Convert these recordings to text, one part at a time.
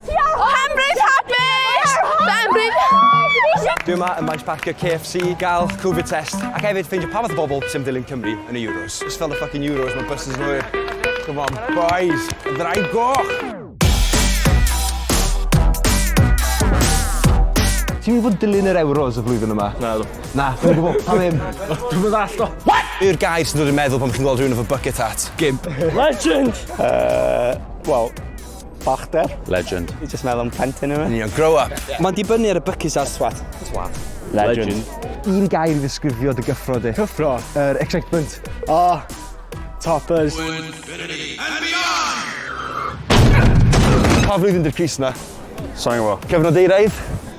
Penbridge Hapus! Penbridge! Dwi yma ym maes parcio KFC, gael Covid test, ac hefyd ffeindio pa fath o bobl sy'n dilyn Cymru yn y Euros. Just fel the fucking Euros, mae buses yn hwyr. Come on, boys, y ddraig goch! Ti'n mynd fod dilyn yr Euros y flwyddyn yma? Na, dwi. Na, dwi'n gwybod, pa ddim? Dwi'n mynd all, do. What? Yw'r gair sy'n dod i'n meddwl pan chi'n gweld rhywun efo bucket hat? Gimp. Legend! Uh, well, Balchder. Legend. Fi jyst meddwl am plentyn yw e. Union, grow up! Mae'n dibynnu ar y bycus a... Twat. Twat. Legend. Un gair i ddisgrifio dy gyffro di. Cyffro? Yr excitement. O! Toppers. To infinity and beyond! Pa flwyddyn 'di'r crys 'na? Sai'n gwbo. Cyfnod euraidd?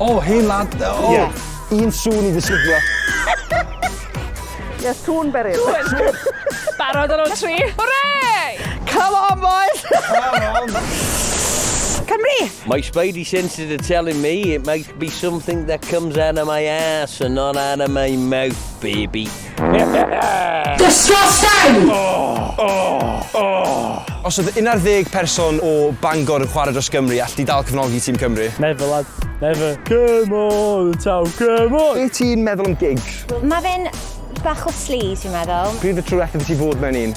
O hen lad yy o! Ie. Un sŵn i ddisgrifio. Ie sŵn beryg. Sŵn! Barod ar ol tri. Hwrei! Come on boys! Come on! Cymru! My spidey senses are telling me it might be something that comes out of my arse and not out of my mouth, baby. Disgusting! Oh, oh, oh. Os oedd 11 person o Bangor yn chwarae dros Gymru, all di dal cyfnogi tîm Cymru? Never, lad. Never. Come on, taw, come on! Be ti'n meddwl am gigs? Mae fe'n bach o sleaze, fi'n meddwl. Pryd y tro diwethaf i ti fod mewn un?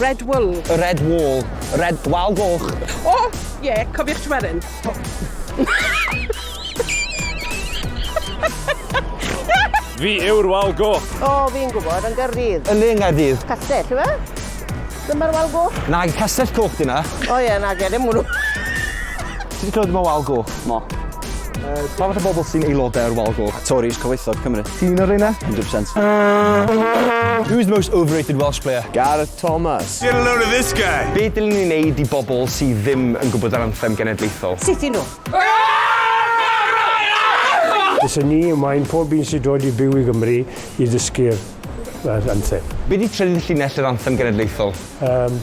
Red Wool. Red Wool. Red Wal Goch. O, oh, ie, yeah, cofiwch Tweryn. Fi yw'r wal goch. O, oh, fi'n gwybod, yn gyrrydd. Yn le yn Gaerdydd. Castell, yw e? Dyma'r wal goch? Na, castell coch di na. O ie, na, gen i'n mwrw. Ti wedi clywed yma wal goch? Mo. Uh, pa fath o bobl sy'n aelodau o'r wal goch? Tories, cyfoethog Cymru. Ti'n un o'r reina? 100%. Who's the most overrated Welsh player? Gareth Thomas. Get a load of this guy! Be dylen ni wneud i bobl sydd ddim yn gwybod yr anthem genedlaethol? Sut i nhw? Bysen ni yn wain pob un sy'n dod i byw i Gymru i ddysgu'r anthem. Be di trydydd llinell yr anthem genedlaethol? Yym.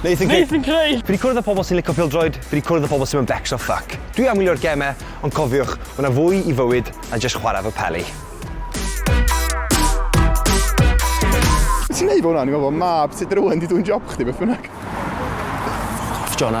Nathan Craig. Nathan Craig! Fi 'di cwrdd â pobl sy'n lico pêl-droed, fi 'di cwrdd â pobl sy'm yn becso ffyc. Dwi am wylio'r gemau, ond cofiwch, ma' 'na fwy i fywyd na jyst chwarae efo peli. Ti'n neud hwnna? O'n i'n meddwl bod mab tŷ dy rywun 'di dwyn job chdi, beth bynnag. Ffwc off Jona.